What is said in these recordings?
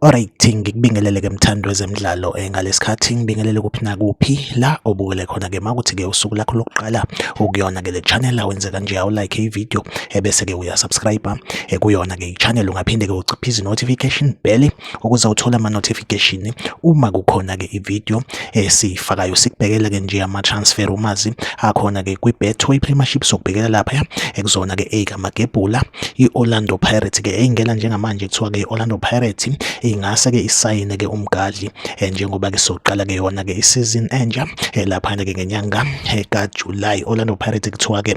Alright, ngikubingelele ke mthandi wezemidlalo eh, ngalesikhathi ngibingelele kuphi nakuphi la obukele khona ke makuthi ke usuku lakho lokuqala ukuyona ke le channel awenze kanje awu like i video ebese eh, ke uya subscribe eh, kuyona ke i channel ungaphinde ke uciphize notification bell ukuze uthole ama notification uma kukhona ke i video esifakayo sikubhekela ke nje ama transfer rumors akhona ke kwi Betway Premiership sokubhekela lapha ekuzona ke eka magebhula i Orlando Pirates ke eyingena njengamanje kuthiwa ke Orlando Pirates ingase ke isayine ke umgadli eh, njengoba ke soqala ke yona ke isizini entsha eh, lapha ke ngenyanga eh, ka July Orlando Pirates kuthiwa ke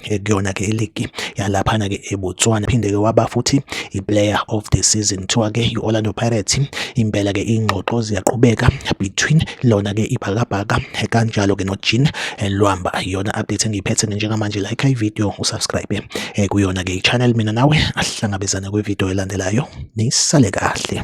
eh, kuyona ke iligi yalaphana ke eBotswana phinde ke waba futhi iplayer of the season kuthiwa ke i-Orlando Pirates impela ke ingxoxo ziyaqhubeka between lona ke ibhakabhaka eh, kanjalo ke noJean eh, Lwamba yona update engiyiphethe njengamanje like i video usubscribe kuyona ke i-channel mina nawe asihlangabezane kwi-video elandelayo nisale kahle